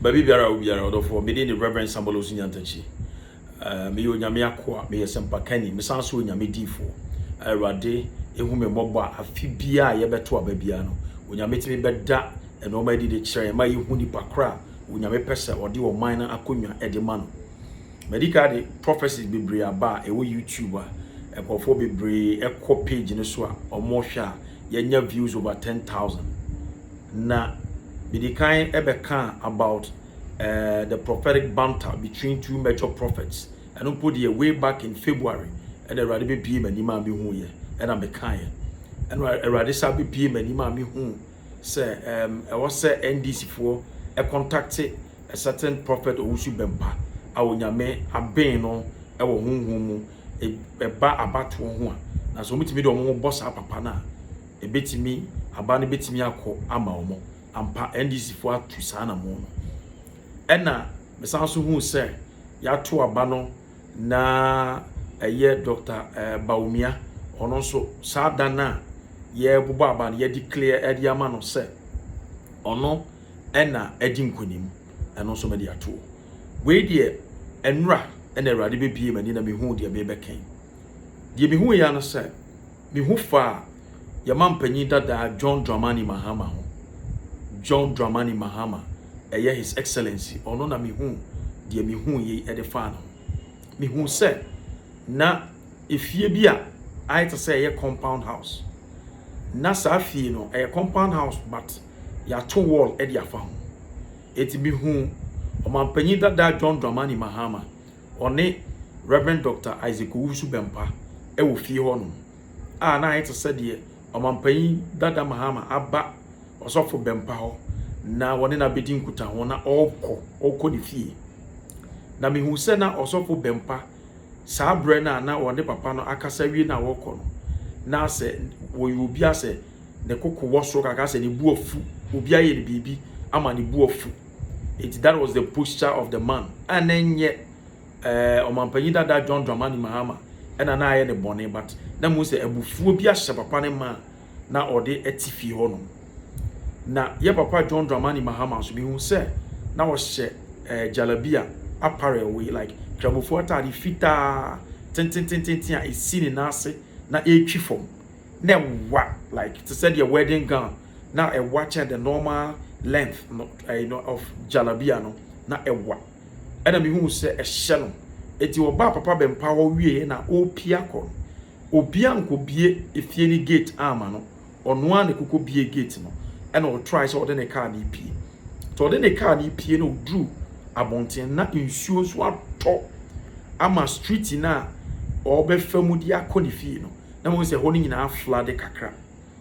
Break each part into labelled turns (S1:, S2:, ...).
S1: Baabi biara a obiara, ɔdɔfoɔ, me din de Rev. Samuel Owusu Nyantakyi. Eh, meyɛ Onyame akoa, meyɛ sɛmpakani, mesan nso Onyame diifoɔ. Awurade ehu me mmɔbɔ a afe biara a yɛbɛto aba biara no, Onyame tumi bɛda nnoɔma adi de kyerɛ yɛn ma yɛhu nipa korɔ a Onyame pɛ sɛ ɔde ɔman no akonnwa de ma no. Madi kan de prophecies bebree aba a ɛwɔ YouTube a nkurɔfoɔ bebree kɔ page no so a wɔhwɛ a yɛanya views over ten thousand. Na medi kan bɛkaa about uh, the prophetic banter between two major prophets. Ɛno mpo deɛ way back in February ɛna Awurade bɛbie m'anim a mehuuiɛ ɛna mekaeɛ. Ɛna Awurade sa bɛbie m'anim a mehuu sɛ ɛwɔ sɛ NDC foɔ kɔntakte a certain Prophet Owusu Bempah a Onyame aben no wɔ honhom mu ɛba abatoɔ ho a, na sɛ wɔtumi de wɔn ho bɔ saa papa no a, ɛbɛtumi, aba no bɛtumi akɔ ama wɔn. Ampa, NDC foɔ atu saa anamo no. Ɛna mesan so hu sɛ yɛato aba no na ɛyɛ Doctor Bawumia, ɔno nso saa da no a yɛrebobɔ aba no yɛdeclare de ama no sɛ ɔno ɛna adi nkonim ɛno nso mede ato wei deɛ ɛnora ɛna awurade bɛbie m'ani na mehu deɛ mebɛkɛn deɛ mehu yɛ no sɛ ne ho faa yɛn mampanyin dadaa John Dramani Mahama ho, John Dramani Mahama, ɛyɛ His Excellency, ɔno na mihuu deɛ mihuu yei ɛde faa ne ho. Mihuu sɛ na efie bi a ayɛ te sɛ ɛyɛ compound house, na saa fie no ɛyɛ compound house but yɛato wall ɛde afa ho. Eti mihuu ɔmampanyin dadaa John Dramani Mahama Ɔne Rev. Dɔkta Isaac Owusu Bɛmpa wɔ fie hɔnom a na ayɛ te sɛ deɛ Ɔmampanyin dada Mahama aba Ɔsɔfo Bɛmpa hɔ na wɔne no abɛdi nkutaho na ɔrekɔ ɔrekɔ ne fie. Na mehu sɛ na Ɔsɔfo Bɛmpa saa berɛ no a na wɔne papa no akasa awie no a wɔrekɔ no, na sɛ wɔyɛ obi a sɛ ne koko wɔ soro kakra sɛ ne bo afu, obi ayɛ no biribi ama ne bo afu. Enti that was the posture of the man a na ɛnyɛ eh, ɔmampanyin dada John Dramani Mahama ɛna na ayɛ ne bɔne but na mu sɛ abufuo bi ahyɛ papa ne ma na ɔde ɛte fie hɔ nom. Na yɛ papa John Dramani Mahama nso mehu sɛ na ɔhyɛ eh, jalabia apparel wei like kramofoɔ ataade fitaa tententententen a ɛsi ne nan ase na ɛretwi fam na ɛwa like te sɛ deɛ wedding gown na ɛwa kyɛn the normal length no eh, you know, of jalabia no na ɛwa ɛna mehu sɛ ɛhyɛ no eti ɔbaa papa bɛmpa hɔ wie na ɔrepia kɔ no obia nkɔbie efie ne gate ama no ɔno a na ɛkokɔ bie gate no ɛna ɔtrae sɛ ɔde ne kaa no pie nti ɔde ne kaa no pie na ɔduru abɔnten na nsuo nso atɔ ama street no a ɔbɛfa mu de akɔ ne fie no na mahu sɛ ɛhɔ no nyinaa aflade kakra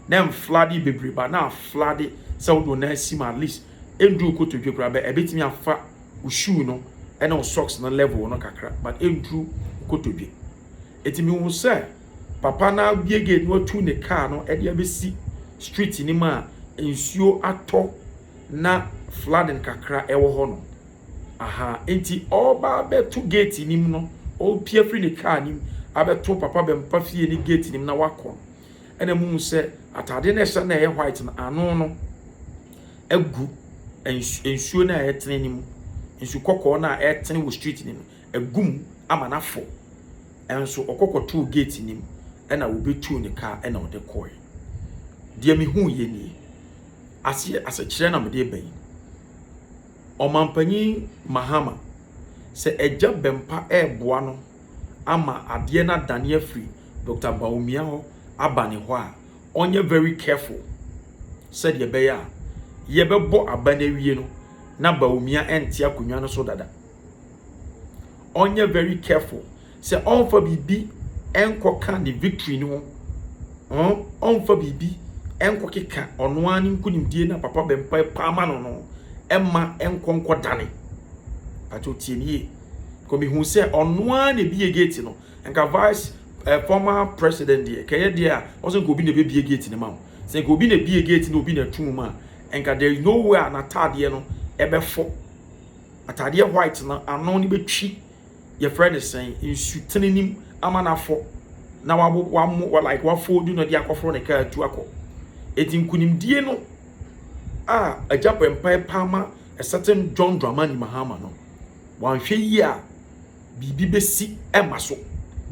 S1: na ɛmflade bebree ba na aflade sɛ wode wo nan si mu at least ɛnduru kotodwe koraa bɛ ɛbɛtumi afa wo shoe no ɛne wo socks no level no kakra but ɛnduru kotodwe ɛti mehu sɛ papa no abie gate no atu ne kaa no ɛde abɛsi street no mu a nsuo atɔ na flooding kakra ɛwɔ hɔ no aha nti ɔreba abɛto gate no mu no, ɔrepue afiri ne kaa no mu abɛto Papa Bɛmpa fie no gate no mu na wakɔ no, ɛna muhu sɛ atade no a ɛhyɛ no a ɛyɛ white no, ano no agu nsu nsuo no a ɛretene no mu. Nsu kɔkɔɔ no a ɛretene wɔ street no mu no, agu mu ama no afɔ. Nso ɔkɔ kɔtoo gate no mu, ɛna wɔbɛtuu ne kaa ɛna ɔde kɔe. Deɛ mehuiɛ nie. Aseɛ asɛkyerɛ na mede reba yi. Ɔmampanyin Mahama sɛ Agya Bɛmpa reboa no ama adeɛ no adane afiri Doctor Bawumia hɔ aba ne hɔ a, ɔnyɛ very careful sɛdeɛ ɛbɛyɛ a yɛbɛbɔ aba no awie no na Bawumia nte akonnwa no so dada. Ɔnyɛ very careful. Sɛ ɔmfa biribi nkɔka ne victory no ho ɔn ɔmfa biribi nkɔkeka ɔno ara ne nkonimdie no a Papa Bempɔɛ paa ma no no mma nkɔ nkɔdane. Pakyɛw tie me yie. Kɔ mehu sɛ ɔno ara na ebie gate no. Nka vice eh, former president deɛ kɛyɛ deɛ a ɔsɛ nka obi na ebebie gate no ma wo. Sɛ nka obi na ebie gate na obi na ɛto mu a nka there is no way a n'ataadeɛ no ɛbɛfo. Ataadeɛ white no ano no bɛtwi yɛfrɛ no sɛn nsutene nim ama no afɔ na wabo wamo wa like wafoldu no de akɔforo ne kaa atu akɔ eti nkunimdie no a agya bɔ mpae paa ma a certain John Dramani Mahama no wanhwɛ yie a biribi bɛsi ɛma so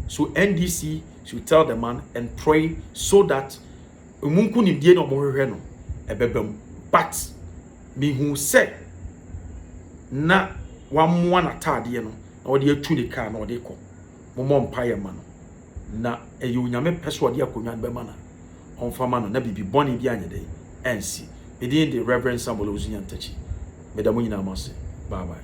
S1: so NDC should tell the man and pray so that Emu nkunimdie na wɔhwehwɛ no ɛbɛba mu but mehuu sɛ na wamoa n'ataadeɛ no na ɔde atu ne kaa na ɔde kɔ momɔ mpaeɛ ma no na ɛyɛ onyame pɛ sɛ ɔde akonnwa no bɛma na ɔmfa ma no na biribi bɔne bi anyɛ dɛn ansi medin de Reverend Samuel Owusu Nyantakyi meda mo nyinaa mo ase bye bye